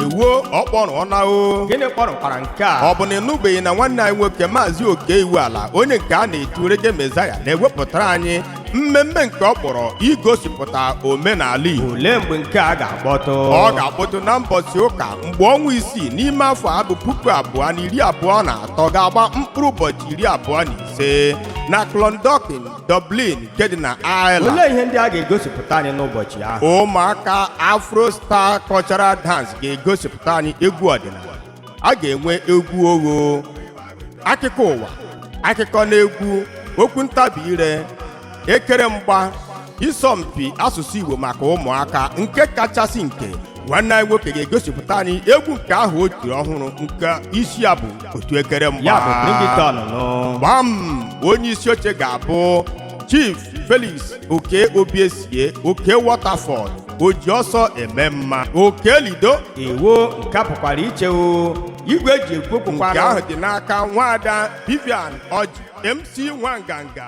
ewuo ọ kpọrọ ọ na o gịnị kpọrọkwara nke a ọ bụ na ị nụbeghị na nwanne anyị nwoke maazị okey iwuala onye nke a na-etu reggae messiah na-ewepụtara anyị mmemme nke ọ kpọrọ igosipụta omenala igbo olee mgbe nke a ga-akpọtụ ọ ga-akpọtụ na mbọsị ụka mgbe ọnwa isii n'ime afọ a bụ puku abụọ na iri abụọ na atọ ga-agba mkpụrụ ụbọchị iri abụọ na ise na clondalkin Dublin nke dị na Ireland olee ihe ndị a ga-egosipụta anyị n'ụbọchị ahụ ụmụaka Afro Star Cultural Dance ga-egosipụta anyị egwu ọdịnala a ga-enwe egwu ogho akụkọ ụwa akụkọ na egwu okwu ntabi ire ekere mgba isọmpi asụsụ Igbo maka ụmụaka nke kachasị nke nwanne anyị nwoke ga-egosipụta anyị egwu nke ahụ o tiri ọhụrụ nke isi ya bụ otu ekere mgba ya bụ bring it on nụ gbam onye isi oche ga-abụ chief felix oke obiesie oke waterford oji ọsọ eme mma oke lido iwu nke pụkwara iche o igwe e ji ekwu nke okwu ahụ dị n'aka nwaada vivian ọjị mc nwanganga